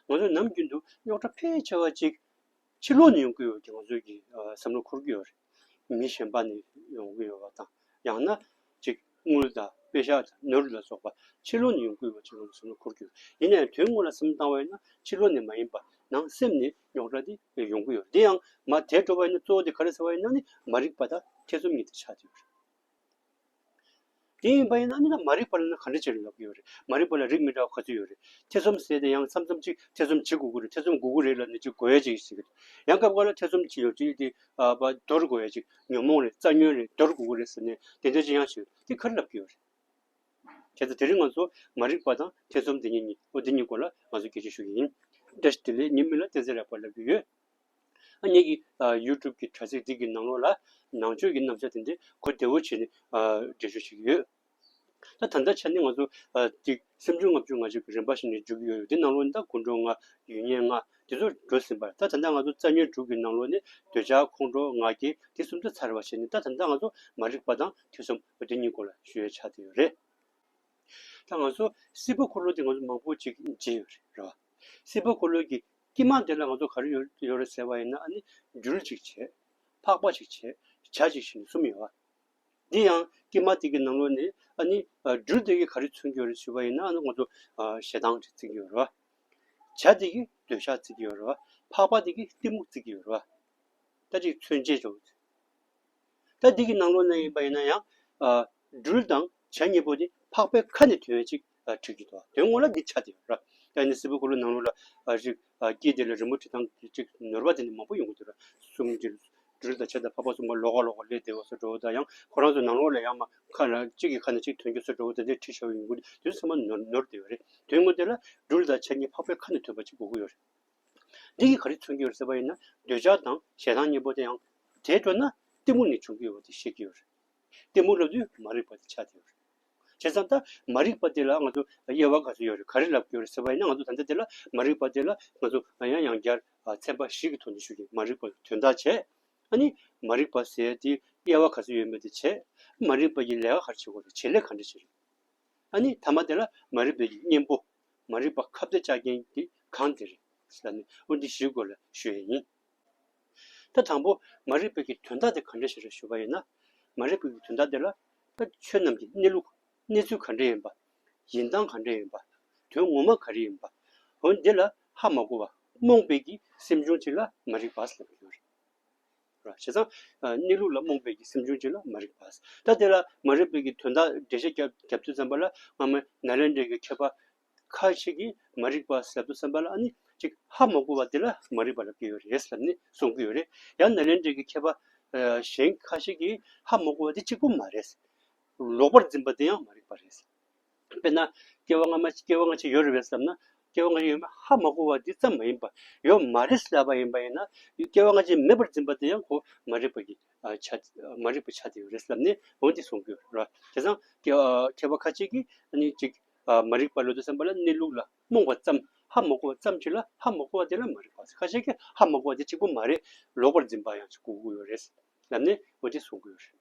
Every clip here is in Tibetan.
ང་ཚོ་ནམ་རྒྱུན་དུ་རྙོག་དྲ་ཕལ་ཆེ་བ་ཅིག་ཕྱི་ལོག་ནས་ཡོང་གི་ཡོད་ཀྱང་ང་ཚོས་ཀྱིས་བསམ་བློ་འཁོར་གྱི་ཡོད་རེད། མི་གཞན་པ་ནས་ཡོང་གི་ཡོད་པ་དང་ཡང་ན་ཅིག་དངུལ་དང་དཔེ་ཞག་དང་ནོར་ལུག་ལ་སོགས་པ་ཕྱི་ལོག་ནས་ཡོང་གི་ཡོད་ཅེས་ང་ཚོས་བསམ་བློ་འཁོར་གྱི་ཡོད། ཡིན་ན་ཡང་དོན་དངོས་ལ་སེམས་བཏང་བ་ཡིན་ན་ཕྱི་ལོག་ནས་མ་ཡིན་པར་ནང་སེམས་ནས་རྙོག་དྲ་དེ་ཡོང་གི་ཡོད་རེད། དེ་ཡང་མ་དེ་འགྲོ་བ་ཡིན་ན་གཙོ་བོ་དེ་ག་རེ་ཟེར་བ་ཡིན་ན་ནི་མ་རིག་པ་དང་ཐེ་ཚོམ་གཉིས་དེ་ཆགས་ཀྱི་ཡོད་རེད། དེ་ཡིན་པ་ཡིན་ན་ནི་མ་རིག་པ་ལ་ནི་ག་འདྲ་བྱས་ནས་ཡོང་གི་ཡོད་རེད། མ་རིག་པ་ལ་རིགས་མི་འདྲ་བ་ག་ཚོད་ཡོད་རེད། ཐེ་ཚོམ་ཟེར་ཏེ་ཡང་མཚམས་མཚམས་ཅིག་ཐེ་ཚོམ་ཇི་དགུ་དགུ་རེད་ཐེ་ཚོམ་དགུ་དགུ་རེད་ལ་ནི་ཅིག་གོ་ཡ་ཅིག་ཟེར་གི་རེད། ཡང་སྐབས་འགར་ལ་ཐེ་ཚོམ་ཇི་ཡོད་ཅིག་དེ་བ་དོར་གོ་ཡ་ཅིག་ཉོན་མོངས་རེད་རྩ་ཉོན་རེད་དོར་དགུ་དགུ་རེད་ཟེར་ནས་དེ་འདྲ་ཅིག་ཡང་བྱས་ཡོད་དེ་ག་རེ་ལབ་ཀྱི་ཡོད་རེད། དེ་ལྟ་དེ་རིང་ང་ཚོ་མ་རིག་པ་དང་ཐེ་ཚོམ་དེ་གཉིས་གཉིས་འོ་དེ་གཉིས་སྐོར་ལ་ང་ཚོ་དགེ་བཤེས་ཞུ་ཡི་ཡིན། བཀྲ་ཤིས་བདེ་ལེགས་ཉིན་མི་ལ་བསྟན་འཛིན་རེག་པར་ལབ་ཀྱི་ཡོད། གཉིས་ཀྱིས YouTube གྱི་དྲ་ཚིགས་འདི་གི་ནང་ལོགས་ལ་ནང་ཆོས་ཀྱི་རྣམ་གཞག་དེ་འདྲའི་གོ་བདེ་བོ་བྱས་ནས་འགྲེལ་བརྗོད་བྱེད་ཀྱི་ཡོད། ད་ད་ལྟའི་ཆ་ནས་ང་ཚོ་འདི་སེམས་ཆུང་ལྔ་བཅུ་ང་གཅིག་གི་རིམ་པ་ཞིག་ནས་བརྒྱུད་ཀྱི་ཡོད་རེད་དེ་ནང་ལོགས་ནས་ད་དགུང་གྲོགས་ལྔ་ཡུལ་གཉན་ལྔ་དེ་ཚོ་འགྲོ་ཟིན་པ་རེད་ད་ད་ལྟ་ང་ཚོ་རྩ་ཉོན་དྲུག་གི་ནང་ལོགས་ནས་འདོད་ཆགས་ཁོང་ཁྲོ་ང་རྒྱལ་དེ་གསུམ་ཚོ་ཚར་བར་བྱས་ནས་ད་ད་ལྟ་ང་ཚོ་མ་རིག་པ་དང་ཐེ་ཚོམ་དེ་གཉིས་སྐོར་ལ་ཞུ་ཡ་ཆགས་བསྡད་ཡོད་རེད། ད་ང་ཚོ་སྲིད་པ་འཁོར་ལོ་དེ་ང་ཚོ་མང་པོ་ཅིག་བརྗེད་ཡོད་རེད་རེད་བ། སྲིད་པ་འཁོར་ལོ་གྱི་སྐྱིད་དམངས་དེ་ལ་ང་ཚོ་ག་རེ་ཡོད་ཡོད་རེད་ཟེར་བ་ཡིན་ན་ཨ་ནི་འགྱུར་ཅིག་བྱེད། འཕགས་པ་ཅིག་བྱེད། བྱ་ཅིག་བྱེད་ནི་གསུམ་ཡིན། འདི་ཡང་སྐྱིད་དམངས་དེ་གི་ནང་ལོགས་ནས་ཨ་ནི་འགྱུར་དེ་གི་ག་རེ་མཚོན་གྱི་ཡོད་རེད་ཞུས་པ་ཡིན་ན་ཨ་ནི་ང་ཚོ་ཞེ་སྡང་ཅིག་བརྩི་གི་ཡོད་རེད། བྱ་དེ་གི་འདོད་ཆགས་བརྩི་གི་ཡོད་རེད། འཕགས་པ་དེ་གི་གཏི་མུག་བརྩི་གི་ཡོད་རེད། ད་ཅིག་མཚོན་བྱེད་ཅིག། ད་འདི་གི་ནང་ལོགས་ན་ཡིན་པ་ཡིན་ན་ཡང། སྦྲུལ་དང་བྱ་གཉིས་པོ་དེ་འཕགས་པའི་ཁ་ནས་དོན་གཅིག་ཁྲིག་གི་འདུག་དོན་དངོས་ལ་འདི་ཆ་དེ་ཡོད་ར། ད་ནི་སིལ་བུ་ཁུ་ལུ་ནང་ལོགས་ལ་རིགས་སྐྱེས་དེ་ལ་རི་མོ་ཁྲི་ཐང་གཅིག་ནོར་བ་དེ་ནི་མང་པོ་ཡོང་གི་འདུག་ར། གསུམ་དེ་སྦྲུལ་དང་བྱ་དང་འཕགས་པ་གསུམ་ག་ལོགས་ཀ་ལོགས་ཀ་ལས་བདེ་བ་སུ་འགྲོ་བ་དང་ཡང་ཁོ་རང་ཚོ་ནང་ལོགས་ལ་ཡང་མ་ཁ་ན་གཅིག་གི་ཁ་ན་གཅིག་དོན་གཅིག་སུ་འགྲོ་བ་དེ་འདིར་ཁྲིད་ཤོར་ཡོང་གི་འདུག་དོན་ཚང་མ་ནོར་དེ་ཡོད་རེད། དོན་དངོས་དེ་ལ་སྦྲུལ་དང་བྱ་གཉིས་འཕགས་པའི་ཁ་ནས་ཐོས་པ་གཅིག་གོ་གི་ཡོད་རེད། འདི་གིས་ག་རེ་མཚོན་གྱི་ཡོད་ཟེར་བ་ཡིན་ན་འདོད་ཆགས་དང་ཞེ་སྡང་གཉིས་པོ་དེ་ཡང་དེའི་འགྲོ་ན་གཏི་མུག་ནི་འབྱུང་གི་ཡོད་པ་དེ་བཤད་ཀྱི་ཡོད་རེད། གཏི་མུག་ལབ་དུས་མ་རིག་པ་དེ་ཆགས་ཀྱི་ཡོད་རེད། བྱས་ཙང་ད་མ་རིག་པ་དེ་ལ་ང་ཚོ་དབྱེ་བ་ག་ཚོད་ཡོད་རེད་ག་རེ་ལབ་ཀྱི་ཡོད་རེད་ཟེར་བ་ཡིན་ན་ང་ཚོ་ད་ལྟ་དེ་ལ་མ་རིག་པ་དེ་ལ་ང་ཚོ་ཡང་ཡང་བསྐྱར་ཚན་པ་བཞི་གི་ཐོག་ནས་ཞུས་ཏེ་མ་རིག་པ་ལ་དོན་དག་བྱས། ཨ་ནི་མ་རིག་པ་ཟེར་དེའི་དབྱེ་བ་ག་ཚོད་ཡོད་མེད་དེ་བྱས། མ་རིག་པ་ཡི་ལས་ཀ་ག་རེ་བྱེད་དགོས་རེད་བྱེད་ལས་ག་འདྲ་བྱེད་རེད། ཨ་ནི་ཐ་མ་དེ་ལ་མ་རིག་པའི་གཉེན་པོ་མ་རིག་པ་ཁ་བརྡ་བཅག་མཁན་དེ་གང་དེ་རེད། ལ་ནི་དབུ་འདི་བཞིའི་སྐོར་ལ་ཞུ་ཡས་ཡིན། ད་དང་པོ་མ་རིག་པའི་གི་དོན་དག་དེ་ག་འདྲ་ཞིག་རེད་ཞུ་བ་ཡིན་ན། མ་རིག་པའི་གི་དོན་དག་དེ་ལ། ད་ཆོས་རྣམས་ཀྱི་གནས་ལུགས་གནས་ཚུལ་ག་འདྲ་ཡིན་པ། ཡིན་སྟངས་ག་འདྲ་ཡིན་པ། དོན་ངོ་མ་ག་རེ་ཡིན་པ། འོན་འདི་ལ་ཧ་མ་གོ་བ་རྨོངས་པའི་གི་སེམས་བྱུང་ཅིག་ལ་མ་རིག་པ། ལ་ཡོད་རེད། ར་བྱས་ཙང། གནས་ལུགས་ལ་རྨོངས་པས་ཀྱི་སེམས་བྱུང་བྱས་ལ་མ་རིག་པས། ད་དེ་ལ་མ་རིག་པས་ཀྱི་དོན་དག་འགྲེལ་བྱེད་རྒྱབ་ཏུ་བསམ་པ་ལ་སྔ་མའི་ན་ལན་འབྲས་ཀྱི་མཁས་པ། ཁ་ཅིག་གིས་མ་རིག་པ་ཟད་དོ་བསམ་པ་ལ་ནི་ཅིག་ཧ་མ་གོ་བ་དེ་ལ་མ་རིག་པ་རབ་སྐྱེ་བའི་རེད་བསམ་ནས་གསུང་གི་ཡོད་རེད། ཡང་ན་ལན་འབྲས་ཀྱི་མཁས་པ། གཞན་ཁ་ཅིག་གིས་ཧ་མ་གོ་བ་དེ་གཅིག་པུ་མ་རེད། ལོག་པར་འཛིན་པ་དེ་ཡང་མ་རིག་པ་རེད། དཔེར་ན་སྐྱེ་བ་སྔ་མ་སྐྱེ་བ་སྔ་ཕྱི་ཡོད་རེད་བསམ་ན་སྐྱེ་བ་སྔ་ཕྱི་ཡོད་མེད་ཧ་མ་གོ་བ་འདི་ཙམ་མ་ཡིན་པར་ཡོད་མ་རེད་ཟེར་བ་ཡིན་པ་ཡིན་ན་སྐྱེ་བ་སྔ་ཕྱི་མེད་པར་འཛིན་པ་དེ་ཡང་གོ་མ་རིག་པ་གི་ཆ་མ་རིག་པའི་ཆ་དེ་ཡོད་རེད་བསམ་ནས་འོན་ཏེ་གསུང་གི་རེད་དེ་སང་མཁས་པ་ཁ་ཅིག་གིས་ནི་གཅིག་མ་རིག་པ་ལོ་ཏོག་སེམས་པ་ལ་གནས་ལུགས་ལ་རྨོངས་པ་ཙམ་ཧ་མ་གོ་བ་ཙམ་གྱིས་ལ་ཧ་མ་གོ་བ་དེ་ལ་མ་རིག་པ་ཟེར་ཁ་ཅིག་གིས་ཧ་མ་གོ་བ་དེ་གཅིག་པུ་མ་རེད་ལོག་པར་འཛིན་པ་ཡང་གོ་གི་ཡོད་རེད་བསམ་ནས་འོན་ཏེ་གསུང་གི་ཡོད་རེད།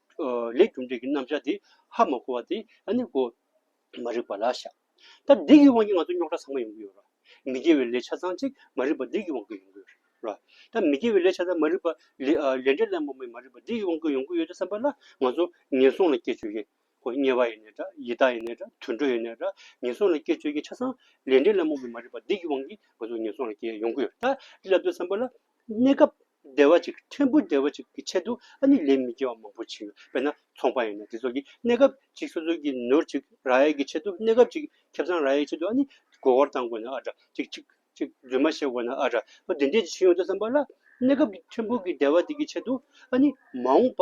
ལས་རྒྱུ་འབྲས་ཀྱི་རྣམ་བཞག་དེ་ཧ་མ་གོ་བ་དེ་ནི་གོ། མ་རིག་པ་ལ་བཞག། ད་སྡིག་གི་དབང་གིས་ང་ཚོ་རྙོག་དྲ་ཚང་མ་ཡོང་གི་ཡོད་རེད། མི་དགེ་བའི་ལས་ཆ་ཚང་གཅིག་མ་རིག་པ་སྡིག་གི་དབང་གིས་ཡོང་གི་ཡོད་རེད། ད་མི་དགེ་བའི་ལས་ཆ་ཚང་མ་རིག་པ། ལས་འབྲས་ལན་མོ་མའི་མ་རིག་པ་སྡིག་གི་དབང་གིས་ཡོང་གི་ཡོད་བསམ་པ་ལ་ང་ཚོ་ངན་སོང་ལ་སྐྱེ་ཆོས་ཀྱི། གོ་དམྱལ་བ་ཡིན་ནའི་འདྲ་ཡི་དྭགས་ཡིན་ནའི་འདྲ་དུད་འགྲོ་ཡིན་ནའི་འདྲ་ངན་སོང་ལ་སྐྱེ་ཆོས་ཀྱི་ཆ་ཚང། ལས་འབྲས་ལན་མོ་མའི་མ་རིག་པ་སྡིག་གི་དབང་གིས་ང་ཚོ་ངན་སོང་ལ་སྐྱེ་ཡོང་གི་ཡོད་རེད། ལབ་དུས་བསམ་པ་ལ། གནས་སྐབས། བདེ་བ་ཅིག་ཕྲན་བུ་བདེ་བ་ཅིག་གི་ཆེད་དུ་ཨ་ནི་ལས་མི་དགེ་བ་མང་པོ་བྱེད་ཡོད་པས་ན་ཚོང་པ་ཡིན་ན་དེ་ཚོ་གིས་གནས་སྐབས་ཅིག་སོ་སོ་གིས་ནོར་ཅིག་ར་ཡས་ཀྱི་ཆེད་དུ་གནས་སྐབས་ཅིག་ཁྱབ་ཚང་ར་ཡས་ཆེད་དུ་ཨ་ནི་མགོ་སྐོར་བཏང་དགོས་ན་ཨ་དྲ་ཅིག་ཅིག་ཅིག་རྫུན་མ་བཤད་དགོས་ན་ཨ་དྲ་འདི་འདྲས་ཅིག་བྱུང་ཡོང་དུས་བསམ་པ་ལ་གནས་སྐབས་ཀྱི་ཕྲན་བུ་གི་བདེ་བ་དེ་གི་ཆེད་དུ་ཨ་ནི་མ་འོངས་པ་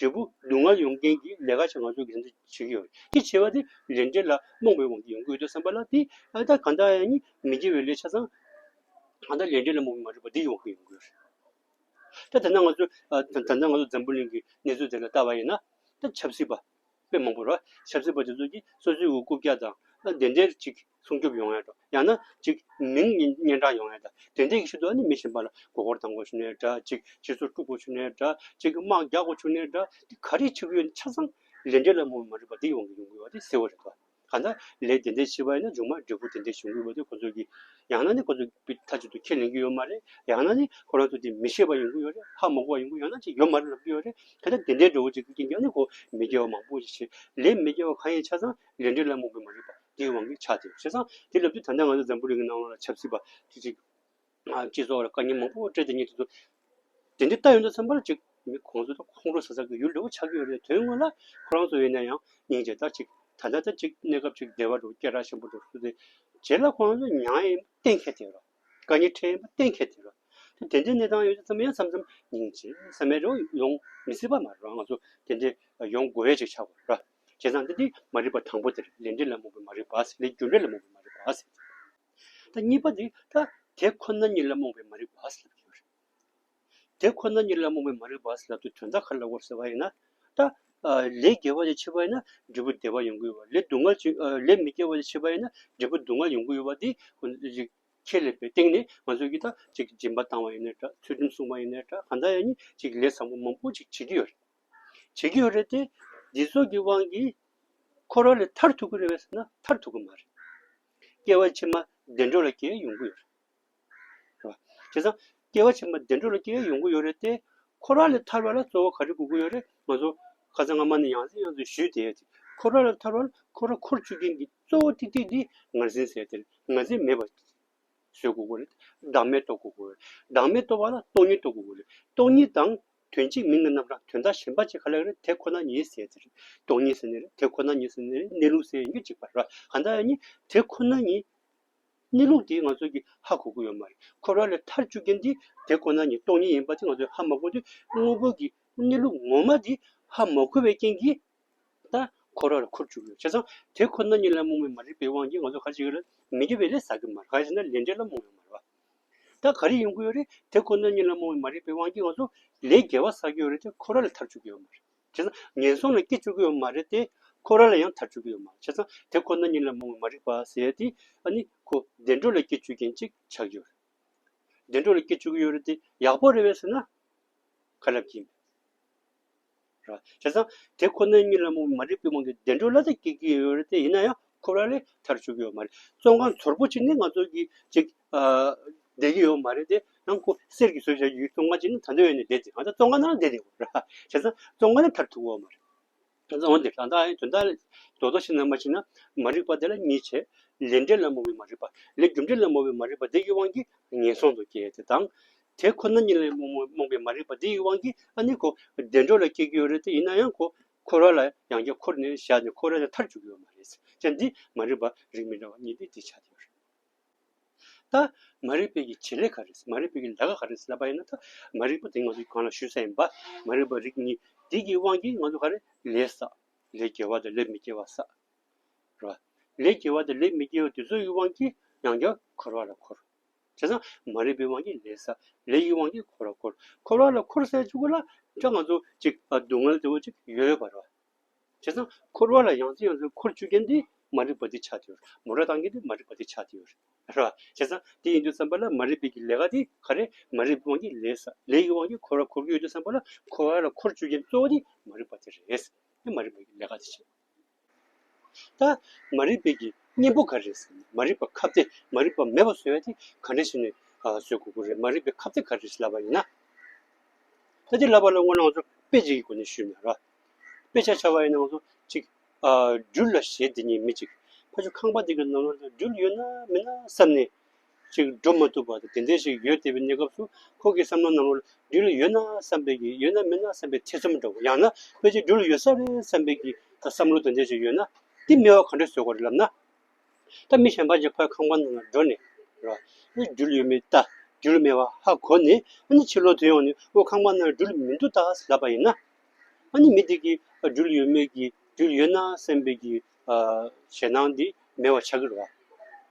འབྲས་བུ་སྡུག་བསྔལ་ཡོང་རྐྱེན་གྱི་ལས་ཀ་བྱེད་ང་ཚོ་དགེ་འདུན་བྱེད་ཀྱི་ཡོད་རེད་ཅེས་བྱས་པ་དེ་ལས་འབྲས་ལ་རྨོངས་པའི་དབང་གིས་ཡོང་གི་ཡོད་དོ་བསམ་པ་ལ་དེ་ཨ་ད་གང་ལྟར་ཡང་མི་དགེ་བའི་ལས་ཆ་ཚང་ད་ལྟ་ལས་འབྲས་ལ་རྨོངས་པའི་མ་རིག་པ་འདི་ཡོང་གི་ཡོང་གི་ཡོད་རེད་ད་དེ་ན་ང་ཚོས་ད་ལྟ་ང་ཚོ་འཛམ་བུ་གླིང་གི་གནས་ཚུལ་དེ་ལ་བལྟ་བ་ཡིན་ན་ད་ཆབ་སྲིད་པ་དཔེ་མང་པོ་རེད་ཆབ་སྲིད་པ་དེ་ཚོ་གིས་སོ་སོའི་འུ་རྐུབ་བཀྱག་དང་བདེན་བདེན་ཅིག་སྲུང་སྐྱོབ་ཡོང་ཡག་དང་ཡང་ན་གཅིག་མིང་སྙན་གྲགས་ཡོང་ཡག་དང་དེ་འདྲའི་ཞིག་ཏུ་ནི་མི་ཕྱིན་པ་ལ་མགོ་སྐོར་བཏང་དགོས་ཆུག་ནས་འདྲ་གཅིག་སྤྱི་ཚོགས་དཀྲུག་དགོས་ཆུག་ནས་འདྲ་གཅིག་དམག་རྒྱག་དགོས་ཆུག་ནས་འདྲ་དེ་ག་རེ་ཆེ་བུའི་ཆ་ཚང་ལས་འབྲས་ལ་མོས་མ་རིག་པ་དེ་ཡོང་གི་ཡོང་གི་བ་དེ་གསལ་བོ་རེད་དོ། གང་ལྟར་ལས་དེ་འདྲའི་ཆེ་བ་ཡིན་ན་རྗུང་མ་འབྲས་བུ་དེ་འདྲའི་བྱུང་གི་བ་དེ་ཁོ་ཚོ་གི་ཡང་ན་ནི་ཁོ་ཚོ་གི་མཐའ་གཅིག་ཏུ་ཁས་ལེན་གི་ཡོད་མ་རེད་ཡང་ན་ནི་ཁོ་རང་ཚོ་དེ་མི་ཤེས་པ་ཡོང་གི་ཡོད་རེད་ཧ་མ་གོ་བ་ཡོང་གི་ཡང་ན་ཅིག་ཡོད་མ་རེད་ལབ་ཀྱི་ཡོད་རེད་གལ་ཏེ་དེ་འདྲའི་འབྲས་བུ་ཅིག་གི་རྐྱེན་ཀྱང་ནི་ཁོ་མི་དགེ་བ་མང་པོ་ཞིག་བྱེད་ལས་མི་དགེ་བ་གང་ཡིན་ཆ་ཚང་ལས་འབྲས་ལ་མོས་མ་རིག་པ། དེའི་དབང་གིས་ཆགས་ཏེ་བྱས་ཙང་དེ་ལབ་དུས་ད་ལྟ་ང་ཚོ་འཛམ་བུ་རིང་གི་སྣང་བ་ལ་ཆབ་སྲིད་པ་དུས་ཚིགས། སྤྱི་ཚོགས་ལ་དཀའ་ཉེན་མང་པོ་སྤྲད་དེ་ཉིད་དུ་འདུག་དེ་འདི་ལྟ་ཡོད་ན་ཚང་མར་ཅིག་མི་གོང་ཚོད་དང་ཁོང་ཁྲོ་ཟ་ཟ་གི་ཡུལ་འདྲ་བོ་ཆགས་ཀྱི་ཡོད་རེད་དོན་དངོས་ལ་ཁོ་རང་ཚོ་ཡོད་ན་ཡང་ཉིན་བྱེད་ལྟར་ཅིག་ད་ལྟ་ལྟར་ཅིག་གནས་སྐབས་ཅིག་བདེ་བ་འགྲོ་སྐྱེ་ར་ཆེན་པོ་འགྲོ་སུ་དེ་བྱས་ལ་ཁོ་རང་ཚོ་མྱང་ཡེ་གཏན་འཁེལ་དེ་རོ། དཀའ་ཉེན་འཕྲད་ཡེ་གཏན་འཁེལ་དེ་རོ། དེ་དེ་འདྲའི་གནས་སྟངས་ཡོད་ཚེ་ཚང་མ་ཡང་མཚམས་མཚམས་ཉིན་བྱེད་ས་མེད་རེའོ་ཡོང་མི་སྲིད་པ་མ་རེད་རང་ང་ཚོ་དེ་འདྲའི་ཡོང་དགོས་ཡས་ཅིག་ཆགས་པ་རེད། བྱས་ཙང་དེ་མ་རིག་པ་དང་པོ་དེར་ལས་འབྲས་ལ་རྨོངས་པའི་མ་རིག་པ་ཟེར་ལས་རྒྱུ་འབྲས་ལ་རྨོངས་པའི་མ་རིག་པ་ཟེར་ཏེ། གཉིས་པ་དེ་ད་དེ་ཁོ་ན་ཉིད་ལ་རྨོངས་པའི་མ་རིག་པ་ཟེར་ལབ་ཀྱི་ཡོད་རེད། དེ་ཁོ་ན་ཉིད་ལ་རྨོངས་པའི་མ་རིག་པ་ཟེར་ལབ་དུས་དོན་དག་ག་ལ་བོར་ཟེར་བ་ཡིན་ན། ད་ལས་དགེ་བ་ཅིག་བྱེད་པ་ཡིན་ན་འབྲས་བུ་བདེ་བ་ཡོང་གི་ཡོད་པ་ལས་སྡུག་བསྔལ་ཅིག་ལས་མི་དགེ་བ་ཅིག་བྱེད་པ་ཡིན་ན་འབྲས་བུ་སྡུག་བསྔལ་ཡོང་གི་ཡོད་པ་འདི་ཁས་ལེན་པའི་སྟེང་ནས་ང་ཚོས་ཀྱིས་ད་ཅིག་སྦྱིན་པ་བཏང་བ་ཡིན་ནའི་འདྲ་ཚུལ་ཁྲིམས་བསྲུངས་པ་ཡིན་ནའི་འདྲ་གང་ཟག་ཡང་ཉིད་ཅིག་ལས་བཟང་པོ་མང་པོ་ཅིག་བྱེད་ཀྱི་ཡོད་རེད། བྱེད་ཀྱི་ཡོད་རེད་དེ། འདི་ཚོ་གི་དབང་གིས། ཁོ་རང་ལ་མཐར་ཐུག་གི་རེ་བས་ཟེར་ན་མཐར་ཐུག་གི་མ་རེད། སྐྱེ་བ་ཕྱི་མ་བདེ་འགྲོ་ལ་སྐྱེ་ཡས་ཡོང་གི་ཡོད་རེད། དེ་སང། སྐྱེ་བ་ཕྱི་མ་བདེ་འགྲོ་ལ་སྐྱེ་ཡས་ཡོང་གི་ཡོད་རེད་དེ། ཁོ་རང་ལ་ཐར་བ་ལ་གཙོ་བོ་ག་རེ་དགོས་ཀྱི་ཡོད་རེད་ང་ཚོ། ཁ་ཚ་རྔ་མ་ནས་ཡང་ཟིན་ཡང་ཟིན་ཞུས་དེ། ཁོ་རང་ལ་ཐར་བ་ལ་ཁོ་རང་འཁོར་བཅུག་མཁན་གྱི་གཙོ་བོ་ཏིག་ཏིག་འདི་ང་ཟིན་ཟེར་དེ། ང་ཟིན་མེད་པ། བཟོད་དགོས་ཀྱི་རེད། བདག་མེད་རྟོགས་དགོས་ཀྱི་རེད། བདག་མེད་རྟོགས་པ་ལ་སྟོང་ཉིད་རྟོགས་དགོས་ཀྱི་རེད། སྟོང་ཉིད་དང། དོན་གཅིག་མིན་གྱི་རྣམ་གྲངས་དོན་དག་གཞན་པ་གཅིག་ག་ལ་ཡོད་རེད་དེ་ཁོ་ན་ཉིད་ཟེར་ཟེར། སྟོང་ཉིད་ཟེར་ནི་རེད་དེ་ཁོ་ན་ཉིད་ཟེར་ནི་རེད་གནས་ལུགས་ཟེར་ཡིན་གྱི་གཅིག་པ་རེད་བ། གང་ལྟར་ཡང་ནི་དེ་ཁོ་ན་ཉིད། གནས་ལུགས་དེ་ང་ཚོས་ཀྱི་ཧ་གོ་གི་ཡོད་མ་རེད། འཁོར་བ་ལས་ཐར་བཅུག་མཁན་དེ་དེ་ཁོ་ན་ཉིད་སྟོང་ཉིད་ཡིན་པ་དེ་ང་ཚོས་ཧ་མ་གོ་དུས་དངོས་པོ་གྱི་གནས་ལུགས་ངོ་མ་དེ་ཧ་མ་གོ་བའི་རྐྱེན་གྱིས། ལྟར་ཁོ་ར་རུ་འཁོར་བཅུག་ཡོད་བྱས་ཙང་དེ་ཁོ་ན་ཉིད་ལ་རྨོངས་མེད་མ་རིག་པའི་དབང་གིས་ང་ཚོ་ཁ་ཅིག་ལ་མི་དགེ་བའི་ལས་བསགས་ཀྱི་མ་རེད་ག་ཅིག་ན་ལས་འབྲས་ལ་རྨོངས་ཡོད་མ་རེད་བ། ད་ག་རེ་ཡིན་དགོས་ཡོད་རེད་དེ་ཁོ་ན་ཉིད་ལ་རྨོངས་མེད་མ་རིག་པའི་དབང་གིས་ང་ཚོ་ལས་དགེ་བ་བསགས་ཀྱི་ཡོད་རེད་དེ་ཁོ་ར་ལ་ཐར་བཅུག་གི་ཡོད་མ་རེད་བྱས་ཙང་ངན་སོང་ལ་སྐྱེ་བཅུག་གི་ཡོད་མ་རེད་དེ་ཁོ་ར་ལ་ཡང་ཐར་བཅུག་གི་ཡོད་མ་རེད་བྱས་ཙང་དེ་ཁོ་ན་ཉིད་ལ་རྨོངས་མེད་མ་རིག་པ་ཟེར་དེ་ཨ་ནི་ཁོ་བདེ་འགྲོ་ལ་སྐྱེ་བཅུག་མཁན་ཅིག་ཆགས་ཀྱི་ཡོད་རེད། བདེ་འགྲོ་ལ་སྐྱེ་བཅུག་གི་ཡོད་རེད་དེ་ཡག་པོ་རེད་བས་ཟེར་ན་ཁ་ལབ་ཀྱིན་མེད། བྱས་ཙང་དེ་ཁོ་ནའི་གཉིད་ལམ་དབུ་མ་རིག་པའི་དབང་གིས་བདེ་འགྲོའི་བླ་རྩ་སྐྱེལ་གྱི་ཡོད་རེད་དེ་ཡིན་ན་ཡང་ཁོ་རང་ལས་ཐར་ཆོག་གི་ཡོད་མ་རེད་བཙོན་ཁང་ཚོར་པོ་ཅིག་ནི་ང་ཚོ་གི་ཅིག་བསྡད་ཀྱི་ཡོད་མ་རེད་དེ་ཡང་ཁོ་གསེར་གྱི་ཟོལ་བཞག་གི་བཙོན་ཁང་ཅིག་ནི་ད་ལྟའི་བའི་ནས་བསྡད་དེ་ང་ཚོ་བཙོན་ཁང་ནང་བསྡད་དེ་བྱས་ཙང་བཙོན་ཁང་ནས་ཐར་ཐུབ་གི་ཡོད་མ་རེད། བྱས་ཙང་འོན་ཏེ་རང་ལྟ་དོན་དག་ལ་རྡོག་རྡོག་ཤིག་ནང་མ་ཕྱིན་ན་མ་རིག་པ་དེ་ལ་གཉིས་བྱས་ལས་འབྲས་ལ་མོ་བའི་མ་རིག་པ་ལས་རྒྱུ་འབྲས་ལ་མོ་བའི་མ་རིག་པ་དེ་ཡི་དབང་གིས་ངན་སོང་དུ་སྐྱེ་དེ་དང། དེ་ཁོ་ན་ཉིད་ལ་རྨོངས་པའི་མ་རིག་པ་འདི་ཡི་དབང་གིས་ཨ་ནི་གོ། བདེ་འགྲོ་ལ་སྐྱེ་རྒྱུ་ཡོད་རེད་དེ་ཡིན་ན་ཡང་གོ། འཁོར་བ་ལ་ཡང་རྒྱ་འཁོར་ནས་བཞག་ནས་འཁོར་བ་ལས་མཐར་འཇུག་གི་ཡོད་མ་རེད། ཅེས་འདི་མ་རིག་པ་རིགས་མི་འདྲ་བ་གཉིས་ཏེ་འདི་ཆ་དེ་ཡོད་རེད། ད། མ་རིག་པའི་གི་བྱེད་ལས་ག་རེད། མ་རིག་པའི་གི་ལས་ཀ་ག་རེད་ལབ་པ་ཡིན་ན་ད། མ་རིག་པ་དེ་ང་ཚོས་གང་ལ་ཞུ་ས་ཡིན་པ། མ་རིག་པ་རིགས་གཉིས་འདི་གི་དབང་གིས་ང་ཚོ་ག་རེད་ལས་བསགས། ལས་སྐྱེ་བ་དང་ལས་མི་སྐྱེ་བ་བསགས། རེད་པ། ལས་སྐྱེ་བ་དང་ལས་མི་སྐྱེ་བ་དེ་ཚོ་ཡི་དབང་གིས་ཡང་རྒྱ་འཁོར་བ་ལ་འཁོར། བྱས་ན་མ་རིག་པའི་དབང་གིས་ལས་ཟ། ལས་ཀྱི་དབང་གིས་འཁོར་བར་འཁོར། འཁོར་བ་ལ་འཁོར་ཟས་བཅུ་དགུ་ལ། སྐྲ་ལྔ་ཚོ་གཅིག་སྡུག་བསྔལ་དེ་བ་གཅིག་ཡོད་པར། བྱས་ན་འཁོར་བ་ལ་ཡང་རྩེ་ཡང་རྩེ་འཁོར་བཅུ་རྐྱེན་དེ་མ་རིག་པ་དེ་ཆགས་དེ། མོ་ར་དང་གི་དེ་མ་རིག་པ་དེ་ཆགས་དེ། བྱས་ན་དེ་ཡིན་དུ་བསམ་པ་ལ་མ་རིག་པའི་གི་ལས་ག་དེ་ག་རེ་མ་རིག་པའི་དབང་གིས་ལས་ཟ། ལས་ཀྱི་དབང་གིས་འཁོར་བར་འཁོར་གྱི་ཡོད་དུ་བསམ་པ་ལ་འཁོར་བ་ལ་འཁོར་བཅུ་རྐྱེན་གཙོ་བོ་དེ་མ་རིག་པ་དེ་རེད། མ་རིག་པའི་གི་ལས་ག་དེ་བྱེད། ད་མ་རིག་པའི་གི་གཉེན་པོ་ག་རེ་ཟེར་ན་མ་རིག་པ་ཁབ་སྟེ་མ་རིག་པ་མེད་པ་བཟོས་ཏེ་ག་འདྲ་ཞིག་ནས་བཟོས་དགོས་ཀྱི་རེད་མ་རིག་པའི་ཁབ་སྟེ་ག་རེ་ཞིག་ལབ་པ་ཡིན་ན། ད་འདི་ལབ་པ་ལ་སྔོན་ནང་ཚོ་དཔེ་གཅིག་གི་སྒོ་ནས་ཞུས་ན་ར། དཔེ་ཆ་ཆ་བ་ཡི་ནང་དུ་གཅིག་སྦྲུལ་ལ་ཞེས་འདི་ཉིད་མི་གཅིག་ཕ་ཆུ་ཁང་པ་འདི་གི་ནང་ན་སྦྲུལ་ཡོད་ན་མེད་ན་བསམ་ནས། ཅིག་འགྲུབ་མ་ཐུབ་པ་དེ་འདྲས་ཤིག་ཡོད་དེ་བའི་གནས་སྐབས་སུ་ཁོང་གི་བསམ་བློ་རྣམས་རོ་སྦྲུལ་ལ་ཡོད་ན་བསམ་པའི་གི་ཡོད་ན་མེད་ན་བསམ་པའི་ཐེ་ཚོམ་འདྲ་བོ་ཡང་ན་དཔེ་ཅིག་སྦྲུལ་ལ་ཡོད་ས་རེད་བསམ་པའི་གི་བསམ་བློ་དེ་འདྲས་ཤིག་ཡོད་ན་འདི་སྨྲེ་བ་ག་འདྲས་བཟོས་དགོས་རེད་ལབ་ན། ད་མི་གཞན་པ་ཅིག་ཕར་ཁང་པ་ནང་ལ་འགྲོ་ནས་རོ། ཨེ་སྦྲུལ་ཡོད་མེད་ལྟ་སྦྲུལ་མེད་བ་ཧ་གོ་ནས་ཨ་ནི་ཕྱི་ལོག་དུ་ཡོང་ནས་ཨོ་ཁང་པ་ནང་ལ་སྦྲུལ་མི་འདུག་ད་ལབ་པ་ཡིན་ན། ཨ་ནི་མི་དེ་གིས་སྦྲུལ་ཡོད་མེད་གི་སྦྲུལ་ཡོད་ན་བསམ་པའི་གི་ཞེད་སྣང་འདི་མེད་བ་ཆགས་ཀྱི་རེད།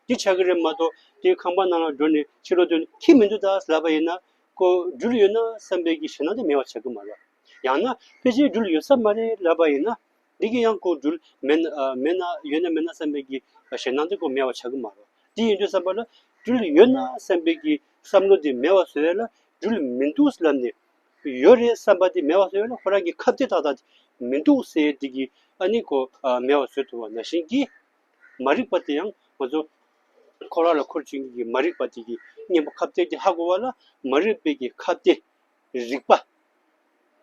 འདི་ཆགས་ཀྱི་རེད་མ་གཏོགས་དེ་ཁང་པ་ནང་ལ་འགྲོ་ནས་ཕྱི་རོལ་དུ་ཁྱིམ་མི་འདུག་ད་ཟླ་པ་ཡིན་ན་ཁོ་འགྲུལ་ཡོད་ན་བསམ་པའི་གྱི་ཞེད་སྣང་དེ་མེད་བ་ཆགས་ཀྱི་མ་རེད། ཡང་ན་ཕལ་ཆེར་འགྲུལ་ཡོད་ས་མ་རེད་ལབ་པ་ཡིན་ན་འདི་གི་ཡང་ཁོ་འགྲུལ་མེད་མེད་ན་ཡོད་ན་མེད་ན་བསམ་པའི་གྱི་ཞེད་སྣང་དེ་ཁོ་མེད་བ་ཆགས་ཀྱི་མ་རེད། འདི་ཡིན་དུས་བསམ་པ་ལ་འགྲུལ་ཡོད་ན་བསམ་པའི་གྱི་བསམ་བློ་དེ་མེད་བ་ཟེར་ལ་འགྲུལ་མི་འདུག་ལབ་ནས་ཡོད་རེད་བསམ་པ་དེ་མེད་པ་བཟོས་ཡོད་ན་ཁོ་རང་གི་ཁ་བརྡའི་ཐག་ཐག་དེ་མི་འདུག་སེ་དེ་གི་ཨ་ནི་གོ་མེད་པ་བཟོས་ཐུབ་བ་ན་བཞིན་གི། མ་རིག་པ་དེ་ཡང་ང་ཚོ་ཁོ་རང་ལ་ཁུར་བྱིན་གི་གི་མ་རིག་པ་དེ་གི་གཉེན་པོ་ཁ་བརྡའི་དེ་ཧ་གོ་བ་ལ་མ་རིག་པའི་གི་ཁ་བརྡའི་རིག་པ་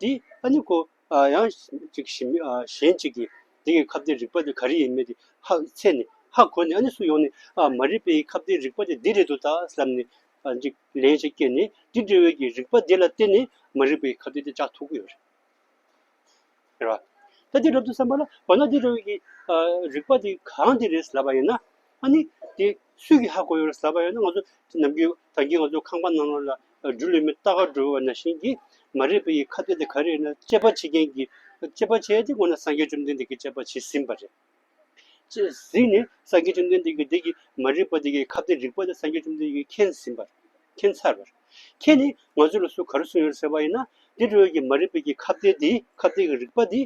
དེ་ཨ་ནི་གོ་ཡང་ཅིག་ཞིམ་གཞན་ཅིག་གི་དེ་གི་ཁ་བརྡའི་རིག་པ་དེ་ག་རེ་ཡིན་མེད་དེ་ཧ་ཚད་ནས་ཧ་གོ་ནས་ཨ་ནི་སུ་ཡོང་ནས་ཨ་མ་རིག་པའི་ཁ་བརྡའི་རིག་པ་དེ་འདི་རེད་འདུག་ད་བསམ་ནས་ལ་འཇིག། ལན་ཅིག་སྐྱེས་ནས་འདི་འདྲི་བའི་ཀྱི་རིག་པ་འདི་ལ་བརྟེན་ནས་མ་རིག་པའི་ཁ་དོག་དེ་ཅག་ཐོགས་ཀྱི་ཡོད་རེད། ཟེར་བ། ད་འདིར་རབ་ཏུ་བསམ་པ་ལ་འོ་ན་འདི་འདྲི་བའི་ཀྱི་རིག་པ་འདི་གང་འདི་རེད་ཟེར་ལབ་པ་ཡིན་ན། ཨ་ནི་དེ་སུས་ཀྱི་ཧ་གོ་ཡོད་རེད་ཟེར་ལབ་པ་ཡིན་ན་ང་ཚོ་ནམ་རྒྱུན་ད་རྒྱུན་ང་ཚོ་ཁང་པ་ནང་ལ་སྦྲུལ་ལེབ་མི་རྟག་ག་སྦྲུལ་བ་ན་བཞིན་གྱི་མ་རིག་པའི་ཀྱི་ཁ་དོག་དེ་ག་རེ་ཡིན་ན་དཔྱད་པ་བྱེད་མཁན་གྱི་དཔྱད་པ་བྱས་ཏེ་འོ་ན་སངས་རྒྱས་བཅོམ་ལྡན་འདས་ཀྱིས་དཔྱད་པ་བྱས་ཟིན་པ་རེད། ཅེས་གཟིགས་ནས་སངས་རྒྱས་བཅོམ་ལྡན་འདས་ཀྱིས་བདག་གིས་མ་རིག་པ་འདི་ཀའི་ཁ་བདེ་རིག་པ་འདི་སངས་རྒྱས་བཅོམ་ལྡན་འདས་ཀྱིས་མཁྱེན་ཟིན་པར་མཁྱེན་ཚར་བར། ཁྱེད་ནི་ང་ཚོས་ལ་སུ་ག་རུ་སོང་ཡོད་ཟེར་བ་ཡིན་ན་འདི་འགྲོ་ཡོད་ཀྱི་མ་རིག་པའི་ཀྱི་ཁ་བདེ་འདི་ཁ་བདེ་ཀྱི་རིག་པ་འདི།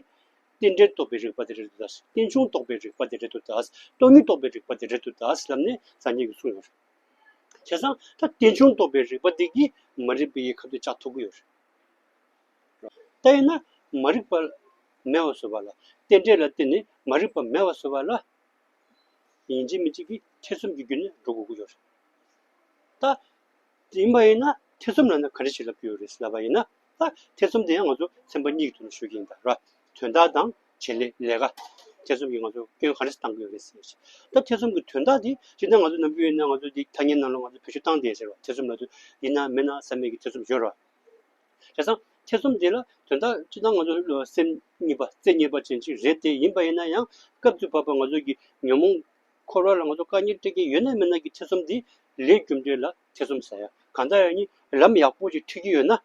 རྟེན་འབྲེལ་རྟོགས་པའི་རིག་པ་འདི་རེད་དོ་ཟླ། རྟེན་འབྱུང་རྟོགས་པའི་རིག་པ་འདི་རེད་དོ་ཟླ། སྟོང་ཉིད་རྟོགས་པའི་རིག་པ་འདི་རེད་དོ་ཟླ་ཞེས་ལབ་ནས་སངས་རྒྱས་ཀྱིས་གསུངས་ཡོད། བྱས་ཙང་ད་རྟེན་འབྱུང་རྟོགས་པའི་རིག་པ་འདི་ཀྱིས་མ་རིག་པའི་ཀྱི་ཁ་བདེ་ལྕགས་ཐོགས་ཀྱི་ཡོད། ལྟ་ཡིན་ན་མ་རིག་པ་མེད་བར་བཟོད་པ་ལ། རྟེན་འབྲེལ་ལ་བརྟེན་ནས་མ་རིག་པ་མེད་བར་བཟོད་པ་ལ། ཡིན་གཅིག་མིན་གཅིག་གི་ཐེ་ཚོམ་གྱི་རྒྱུ་ནི་འགྲོ་དགོས་ཀྱི་ཡོད་རེད། ལྟ་ཡིན་པ་ཡིན་ན་ཐེ་ཚོམ་ལ་ནི་ག་རེ་ཞིག་ལབ་ཀྱི་ཡོད་རེད་ཟེར་བ་ཡིན་ན། ལྟ་ཐེ་ཚོམ་དེ་ཡང་ང་ཚོ་ཚན་པ་གཉིས་ཀྱི་ཐོག་ནས་ཤོད་ཀྱི་ཡིན་པ་རེད། དོན་དག་དང་བྱེད་ལས་ལས་ཀ། ཐེ་ཚོམ་གྱིས་ང་ཚོ་སྐྱོན་ག་རེ་བཏང་གི་ཡོད་རེད་ཟེར་བ། ལྟ་ཐེ་ཚོམ་གྱི་དོན་དག་དེ་སྤྱིར་ན་ང་ཚོ་ནམ་རྒྱུན་ཡིན་ན་ང་ཚོ་འདི་ཐ་སྙད་ནང་ལ་ང་ཚོ་བེད་སྤྱོད་བཏང་སྟེ་ཟེར་བ་ཐེ་ཚོམ་ལ་དུ་ཡིན་ན་མེད་ན་བསམ་མེད་ཀྱི་ཐེ་ཚོམ་ཡོད་རེད། བྱས་ཙང་ཐེ་ཚོམ་འདི་ལ་དོན་དག་སྤྱི་དང་ང་ཚོ་སེམས་གཉིས་པ་རྩེ་གཉིས་པ་ཅན་ཅིག་རེད་དེ་ཡིན་པ་ཡིན་ན་ཡང་སྐབས་དུས་བབ་པ་ང་ཚོ་གི་ཉོན་མོངས་འཁོར་བ་ལ་ང་ཚོ་དཀའ་ཉེར་སྤྲད་ཀྱིན་ཡོད་ན་མེད་ན་གི་ཐེ་ཚོམ་འདི་ལས་རྒྱུ་འབྲས་ལ་ཐེ་ཚོམ་ཟ་ཡ་གང་དག་ཡང་ནི་ལམ་ཡག་པོ་ཅིག་འཁྲིད་ཀྱིན་ཡོད་ན་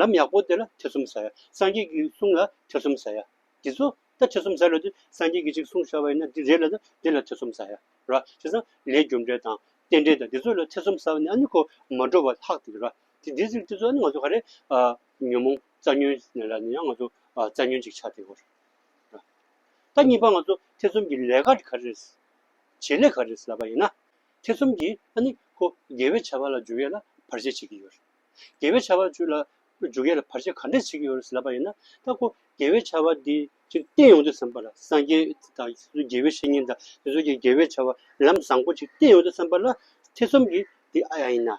ལམ་ཡག་པོ་དེ་ལ་ཐེ་ཚོམ་ཟ་ཡ་སངས་རྒྱས་ཀྱི་གསུང་ལ་ཐེ་ཚོམ་ཟ་ཡ་འདི་ཚོ་ད་ཐེ་ཚོམ་ཟ་ལོས་དེ་སངས་རྒྱས་ཀྱི་ཅིག་གསུང་བཞག་པ་ཡིན་ན་འདི་རེད་ལ་ད་འདི་ལ་ཐེ་ཚོམ་ཟ་ཡ་རོ་བྱས་ཙང་ལས་རྒྱུ་འབྲས་དང་རྟེན་འབྲེལ་དང་འདི་ཚོ་ལ་ཐེ་ཚོམ་ཟ་བ་ནི་ཨ་ནི་གོ་མ་འགྲོ་བ་ལྷག་དེ་རེད་རོ། དེ་འདི་ཚོ་ནི་ང་ཚོ་ག་རེ་ཉོན་མོངས་རྩ་ཉོན་ནས་ལ་ནི་ཡང་ང་ཚོ་རྩ་ཉོན་ཅིག་ཆགས་ཏེ། ད་གཉིས་པ་ང་ཚོ་ཐེ་ཚོམ་གྱི་ལས་ཀ་ག་རེ་བྱེད་ལས་ག་རེ་ལབ་པ་ཡིན་ན། ཐེ་ཚོམ་གྱིས་ཨ་ནི་ཁོ་དགེ་བའི་བྱ་བ་ལ་འཇུག་ཡས་ལ་བར་ཆད་བྱེད་ཀྱི་ཡོད། དགེ་བའི་བྱ་བ་ལ་འཇུག་ཡས་ལ་བར་ཆད་ག་འདྲ་བྱེད་ཀྱི་ཡོད་རེད་ལབ་པ་ཡིན་ན། ད་ཁོ་དགེ་བའི་བྱ་བ་འདི་ཅིག་བསྟེན་ཡོང་དུས་བསམ་པ་ལ་སངས་རྒྱས་དང་དགེ་བའི་བཤེས་གཉེན་དང་དེ་ཚོ་གི་དགེ་བའི་བྱ་བ་ལམ་བཟང་པོ་ཅིག་བསྟེན་ཡོང་དུས་བསམ་པ་ལ་ཐེ་ཚོམ་གྱིས་འདི་ཨ་ཡ་ཡིན་ན།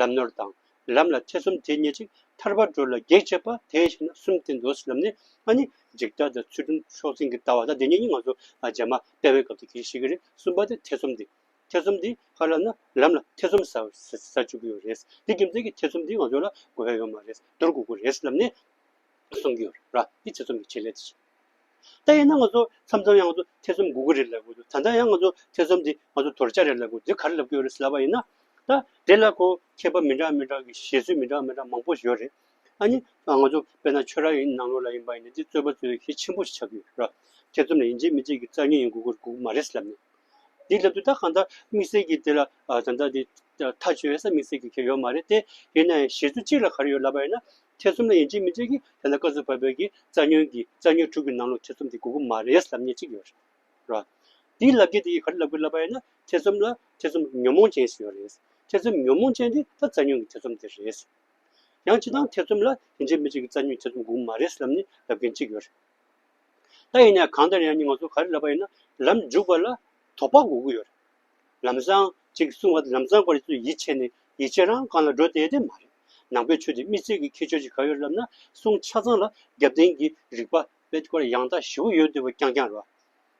ལམ་ནོར་དང། ལམ་ལ་ཐེ་ཚོམ་དེ་སྙེད་ཅིག་ཐར་པར་འགྲོ་ལ་གེགས་བྱེད་པ་དེ་ཤེས་ན་གསུམ་སྟེ་མདོ་སྲིད་ལམ་ནི་ཨ་ནི་འཇིག་ལྟ་དང་ཚུལ་ཁྲིམས་ཕྱོགས་འཛིན་གྱི་ལྟ་བ་དང་དེ་གཉིས་ནི་ང་ཚོ་རྗེས་མ་དཔལ་བའི་སྐབས་དེ་གྱིས་ཤིག་གི་རེད་གསུམ་པ་དེ་ཐེ་ཚོམ་དེ། ཐེ་ཚོམ་དེ་ཧ་ལམ་ན་ལམ་ལ་ཐེ་ཚོམ་ཟ་བཅུག་གི་ཡོད་རེད་དེ་རྒྱུ་མཚན་གྱི་ཐེ་ཚོམ་དེ་ང་ཚོ་ལ་དགོས་ཡོད་མ་རེད་དོར་དགོས་ཀྱི་རེད་ལམ་ནས་གསུངས་ཀྱི་ཡོད་རེད་ར་དེ་ཐེ་ཚོམ་གྱི་ཆེད་ལས་དེ་བྱེད། ད་ཡིན་ན་ང་ཚོ་མཚམས་མཚམས་ཡང་ང་ཚོ་ཐེ་ཚོམ་དགོས་ཀྱི་རེད་ལབ་གི་འདུག་ད་ལྟ་ཡང་ང་ཚོ་ཐེ་ཚོམ་འདི་ང་ཚོ་དོར་བྱ་རེད་ལབ་གི་འདུག་འདི་ག་རེ་ལབ་ཀྱི་ཡོད་རེད་ཟེར་བ་ཡིན་ན། ད་དེ་ལ་ཁོ་མཁས་པ་མི་འདྲ་མི་འདྲ་གི་བཞེད་ཚུལ་མི་འདྲ་མི་འདྲ་མང་པོ་ཞིག་ཡོད་རེད། ཨ་ནི་ང་ཚོ་དཔེར་ན་ཆོས་ར་ཡིན་ནང་ལོགས་ལ་ཡིན་པ་ཡིན་ན་འདི་རྩོད་པ་རྩོད་ཡུལ་གལ་ཆེན་པོ་ཞིག་ཆགས་ཀྱི་ཡོད་རེད། ཐེ་ཚོམ་ལ་ཡིན་གཅིག་མིན་གཅིག་གི་རྩར་ཉེན་ཡོང་དགོས་ཀྱི་དགོས་ཀྱི་མ་རེད་ཟེར་ལབ་ནས། འདི་ལབ་དུས་ད་གང་ལྟར་དམིགས་བསལ་གྱི་དེ་ལ་ད་ལྟ་འདི་ཐག་གཅོད་ཡོད་ས་དམིགས་བསལ་གྱི་གལ་ཡོད་མ་རེད་དེ། ཡིན་ན་ཡང་བཞེད་ཚུལ་གཅིག་ལ་ག་རེ་ཡོད་ལབ་པ་ཡིན་ན། ཐེ་ཚོམ་ལ་ཡིན་གཅིག་མིན་གཅིག་གིས་དེ་ལ་བཀའ་ཟུར་བ་བོད་ཀྱི་རྩ་ཉོན་གྱིས་རྩ་ཉོན་དྲུག་གི་ནང་ལོགས་ཐེ་ཚོམ་དེ་དགོས་གི་མ་རེད་ཟླབ་ཉེས་གཅིག་ཡོད་རེད། དེའི་ལབ་ཀྱི་དེ་ཡིས་ག་རེ་ལབ་དགོས་ལབ་པ་ཡིན་ན་ཐེ་ཚོམ་ལ་ཐེ་ཚོམ་ཉོན་མོངས་ཅན་ཞིག་ཡོད་རེད། ཐེ་ཚོམ་ཉོན་མོངས་ཅན་དེ་ད་རྩ་ཉོན་གྱི་ཐེ་ཚོམ་དེ་རེད། ཡང་ཅི་སྟངས་ཐེ་ཚོམ་ལ་ཡིན་གཅིག་མིན་གཅིག་གི་རྩ་ཉོན་ཐེ་ཚོམ་དགོས་གི་མ་རེད་ཟླབ་ནས་ལབ་མཁན་གཅིག་ཡོད་རེད། ད་ཡིན་ན་གང་ལྟར་ཡང་ནི་ང་ཚོ་ག་རེ་ལབ་པ་ཡིན་ན་ལམ་འཇུག་པ་ལ་དོགས་པ་དགོས་གི་ཡོད་རེད། ལམ་བཟང། ཅིག་གསུང་བ་དེ་ལམ་བཟང་སྐོར་ཡིན་ཚུལ་ཡིད་ཆེས་ནས་ཡིད་ཆེས་རང་རྐང་ལ་འགྲོ་བསྡད་དེ་མ་རེད། ནང་པའི་ཆོས་དེ་དམིགས་བསལ་གྱི་ཁྱད་ཆོས་ཅིག་ག་ཡོད་ལབ་ན་གསུང་ཆ་ཚང་ལ་རྒྱབ་རྟེན་གྱི་རིགས་པ་དཔེ་དཀར་ཡང་དག་བཞི་བོ་ཡོད་འདུག་པ་རྐྱང་རྐྱང་རེད།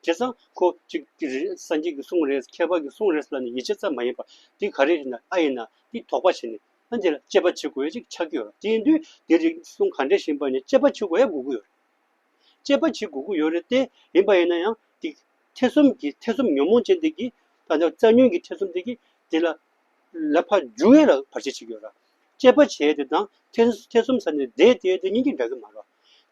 བྱས་ཙང་ཁོ་ཅིག་གིས་རེད་སངས་རྒྱས་ཀྱི་གསུང་རེད་ཁྱད་པར་གྱི་གསུང་རེད་ལབ་ནས་ཡིད་ཆེས་ཙམ་མ་ཡིན་པར་དེ་ག་རེ་རེད་ན་ཨ་ཡིན་ན་དེ་དོགས་པ་བྱས་ནས་ཨ་འདི་ལ་དཔྱད་པ་བྱེད་དགོས་ཡ་ཅིག་ཆགས་ཀྱི་ཡོད་རེད་དེ་དུས་དེ་རིགས་གསུང་ག་འདྲ་བཞིན་པ་ནས་དཔྱད་པ་བྱེད་དགོས་ཡ་དགོས་ཀྱི་ཡོད་རེད། སྤྱད་པ་བྱེད་དགོས་ཀྱི་ཡོད་རེད་དེ། ཡིན་པ་ཡིན་ན་ཡང་དེ། ཐེ་ཚོམ་གྱི་ཐེ་ཚོམ་ཉོན་མོངས་ཅན་དེ་གྱིས། ད་ནི་རྩལ་ཉོན་གྱི་ཐེ་ཚོམ་དེ་གྱིས། དེ་ལ། ལ་ཕ་རྒྱུ་ཡོད་ལ་བར་ཆད་བྱེད་ཀྱི་ཡོད་ར། སྤྱད་པ་བྱས་དེ་དང། ཐེ་ཚོམ་ཟ་ནས་བསྡད་དེ་དེ་གཉིས་ཀྱི་འདྲ་གི་མ་རོ།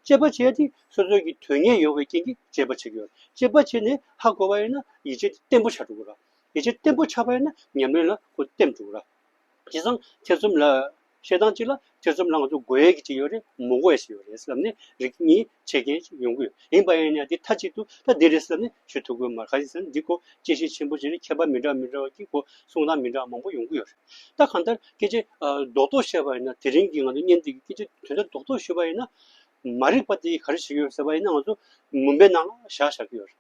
སྤྱད་པ་བྱས་དེ་སོ་སོ་གྱི་དོན་གཉེར་ཡོང་བའི་རྐྱེན་གྱིས་སྤྱད་པ་བྱེད་ཀྱི་ཡོད། སྤྱད་པ་བྱས་ནས་ཧ་གོ་བ་ཡིན་ན་ཡིད་ཆེས་དེ་བརྟན་པོ་ཆགས་འགྲོ་གི་ར། ཡིད་ཆེས་བརྟན་པོ་ཆགས་པ་ཡིན་ན་ཉམས་ལེན་ལ་གོ་བརྟན་འགྲོ་གི་ར། དེ་སང་ཐེ་ཚོམ་ལ། བཤད་སྟངས་གཅིག་ལ་ཐེ་ཚོམ་ལངས་འདུག་དགོས་ཡས་ཀྱི་གཅིག་ཡོད་རེད་མོ་དགོས་ཡས་ཞིག་ཡོད་རེད་བསམ་ནས་རིག་གི་གཉིས་ཆེ་རྐྱེན་ཞིག་ཡོང་གི་ཡོད་ཡིན་པ་ཡིན་ཡང་དེ་མཐའ་གཅིག་ཏུ་ད་འདི་རེད་བསམ་ནས་ཞུ་ཐུབ་དགོས་མར་ཁ་ཅིག་བསམ་འདི་སྐོར་དཔྱད་ཤེས་ཆེན་པོ་བྱས་ནས་མཁས་པ་མི་འདྲ་མི་འདྲ་བ་ཀྱི་སྐོར་གསུང་སྟངས་མི་འདྲ་བ་མང་པོ་ཡོང་གི་ཡོད་རེད་ད་གང་ལྟར་སྐད་ཆ་རྡོག་རྡོག་བཤད་པ་ཡིན་ན་དེ་རིང་གི་ང་ཚོ་བརྙན་འདི་གི་སྐད་ཆ་དོན་དག་རྡོག་རྡོག་ཞུས་པ་ཡིན་ན། མ་རིག་པ་དེ་ག་རེ་བྱེད་ཀྱི་ཡོད་ཟེར་བ་ཡིན་ན་ང་ཚོ་མུན་པའི་ནང་ལ་བཞག་བཞག་གི་ཡོད་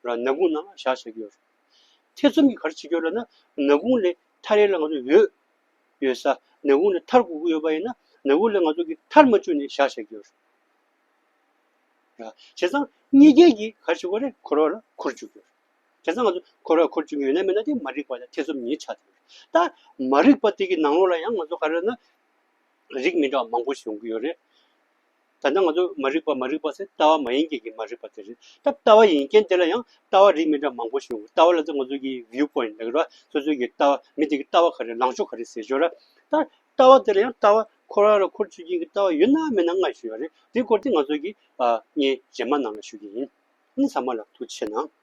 རེད། རང་ནག་ཁུང་ནང་ལ་བཞག་བཞག་གི་ཡོད་རེད། ཐེ་ཚོམ་གྱི་ག་རེ་བྱེད་ཀྱི་ཡོད་ལ་ན་ནག་ཁུང་ལས་མཐའ་རེ་ལ་ང་ཚོ་ཡོད། ཡོད་ས་ནག་ཁུང་ལ་མཐར་དགོས་ཀྱི་ཡོད་པ་ཡིན་ན་ནག་ཁུང་ལ་ང་ཚོ་གིས་མཐར་མ་བཅུག་ནས་བཞག་བཞག་གི་ཡོད་རེད། བྱས་ཙང་གཉིས་རྒྱལ་གྱིས་ག་ཞིག་གོ་རེ་འཁོར་བ་ལ་འཁོར་བཅུག་གི་ཡོད་རེད། བྱས་ཙང་ང་ཚོ་འཁོར་བ་འཁོར་བཅུག་གི་ཡོད་ན་མེད་ན་དེ་མ་རིག་པ་ལ་ཐེ་ཚོམ་ཉིད་ཆགས་ཀྱི་ཡོད་རེད། ད་མ་རིག་པ་དེ་གི་ནང་ལོགས་ལ་ཡང་ང་ཚོ་ག་རེ་ན་རིགས་མི་འདྲ་བ་མང་པོ་ཞིག་ཡོང་གི་ཡོད་རེད། ད་ལྟ་ང་ཚོ་མ་རིག་པ་མ་རིག་པ་ཟེར་ལྟ་བ་མ་ཡིན་རྐྱེན་གྱིས་མ་རིག་པ་དེ་རེད་སྟབས་ལྟ་བ་ཡིན་རྐྱེན་དེ་ལ་ཡང་ལྟ་བ་རིགས་མི་འདྲ་མང་པོ་ཞིག་ཡོང་གི་ལྟ་བ་ལ་ཚོ་ང་ཚོ་གི view point ལྟ་གི་ར་སོ་སོའི་གི་ལྟ་བ་མི་དེ་གི་ལྟ་བ་ག་རེ་ལངས་ཕྱོགས་ག་རེ་ཟེར་ཞོར་ར་ད་ལྟ་བ་དེ་ལ་ཡང་ལྟ་བ་ཁོ་ར་ལ་ཁོར་ཆུད་རྐྱེན་གྱི་ལྟ་བ་ཡོད་ན་མེད་ན་ལྔ་ཞུས་པ་རེད་དེ་སྐོར་དེ་ང་ཚོ་གི་བརྙན་རྗེས་མ་ནང་ལ་ཞུ་གི་ཡིན་ཨ་ནི་ཟ་མ་ལ་ཐུག་ཆེ་ན།